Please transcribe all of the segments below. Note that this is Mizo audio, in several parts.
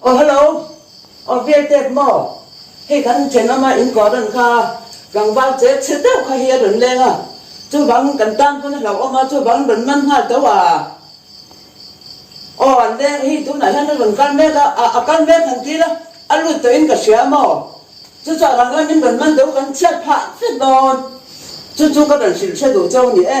Aw hello, aw Vietep maw? Hei kan thenawma inkuah ran kha tlangval che chhe deuh kha hi a rawn leng a, chuvangin kan tan pawn a hlauhawm a, chuvangin rawn man nghal tawh a. Aw an deng hi tunah hian a rawn kal mek a, a a kal mek han tir a, a lut tawh in ka hria maw? Chu chuan rang rang in rawn man do kan chhiat phah vek dawn, chu chu ka rawn hrilh hre duh chau ni e.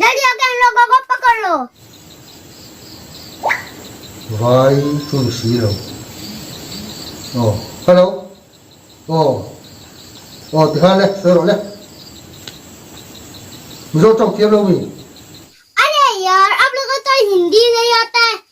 Dalia keng lo ka kawp ka kawr lo. Vai chu i si lo. Aw. Hello. Aw. Aw ti kha le sawi rawh le. Mizo tawng thiam lo mi. Are yaar, aap laka tawi hindi layer te.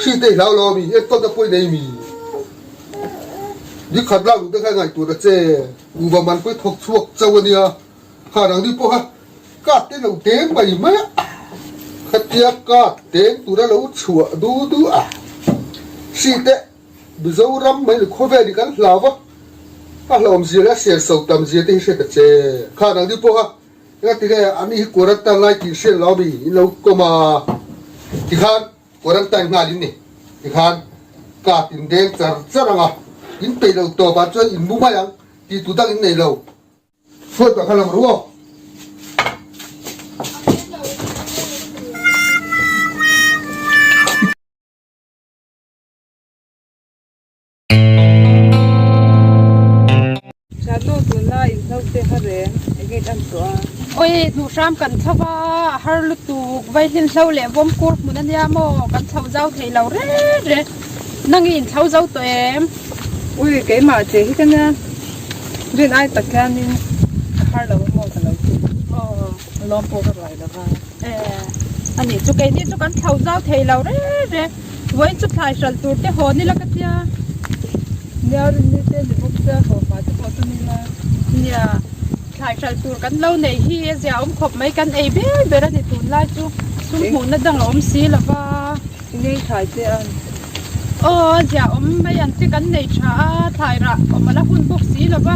Hriat ei hlau lo a mi, enkawl na pawi nei mi? Dikhat lak duh te hian ngaih tur a che. U va man pawh i thawk chhuak chauh a nia. Khan ang deuh pawh ha, kat te lo te mai mai a, khatia kat teng tur a lo chhuah duh duh a. Hriat teh, Mizoram Mani khawvel hi kan hlau a, a hlauhawm zia leh a serso tam zia te hi hriat a che. Khan ang deuh pawh ha. Enge ti nge ami hi quarantine lai tih hriat loh ami in lo tlawm a tikhan quarantine nghal in ni tikhan kap in deng char char ang a in peih loh tawp ah chuan in bu mai ang tih tu dang in nei lo. Sawi tawh kha lo ru aw. Hlatlaw tunna inhlauhte ha reng engin an tuah a? Awii, hnuhram kan thlauh a, a har lutuk, vaihhlin hlo leh vawm kur hmun a nia maw? Kan chhoh zau thei lo ret ret. Nang i inthlau zo tawh em? Awii, keimah che hi ka nia, rin ai tak hianin ka har lo maw ka lo ti. Aww. Lawm pawh ka ruai lova. Eh, ani chu kei ni chu kan thlau zau thei lo re re. Vawiin chu thlai hral tur te hawn ila ka tia. Nia rin ni te ni bawk sia haw pa te pawh chu ni la. Nia, thlai hral tur kan lo nei hi zia awm khawp mai kan ei ber ber ani tun lai chu sum hmuhna dang a awm si lova. I nei thlai che a. Aw, ziaawm mai ang che kan nei tha a, thlai rah awm a la hun bawk si lo va,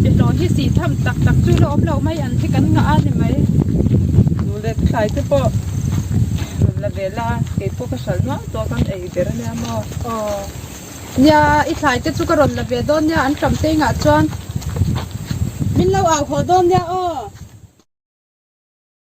biahlawh hi si tham tak tak chu la awm lo mai ang che kan ngah a ni mai. Nu leh ka thlai te pawh rawn la ve la, kei pawh ka hralh nual tawh a kan ei ber a nia maw? Aw, nia i thlai te chu ka rawn la ve dawn nia an tam te ingah chuan min lo au haw dawn nia aw.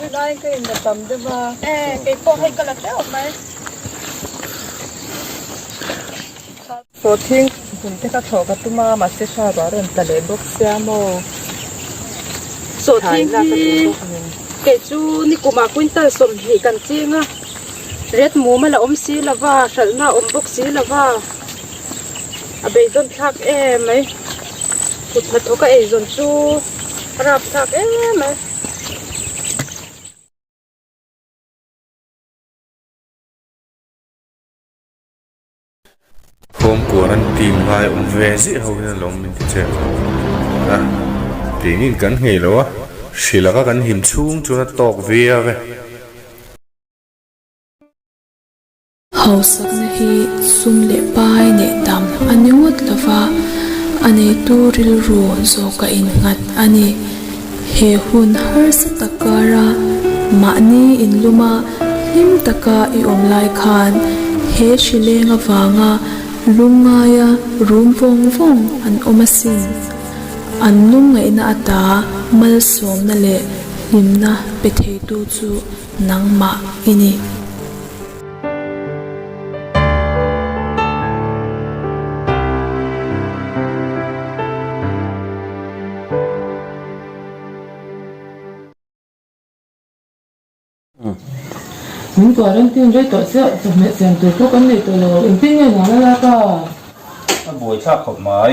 Tunlai ka in la tam deuh a. Eh, kei pawh hei ka la teuh mai. Pawh thing hmun te ka chhawh ka tum a, mahse hra ruah rawh in tla leh bawk sia maw. Chhawh thing hi kei chu nikumah quintal sawmhnih kan cheng a, ret mum a la awm si lova, hralhna awm bawk si lova, A bei dawn thlak em mai. Kut hna thawk a ei zawn chu a rap thlak em mai. Home kuan an team lai awm ve ziah ho hian lo awm min ti che ang tho a. Tih ngin kan nghei lo a, hri laka kan him chhung chuan a tawk viau e. Hausakna hi sum leh pai neih tam a ni ngawt lo va, a neitu rilru zawka innghat a ni. He hun harsa tak kara mahni inluma hlim taka i awm lai khan he hri leng avanga lungngaia rum vawng vawng an awm asin. An lungngaihna ata malsawmna leh hlimna pe theitu chu. Nangmah i ni. Min quarantine rei tawh chiah, chawhmeh siam tur pawh kan nei tawh lo. Engtin nge nana lak a? A buaithlak khawp mai.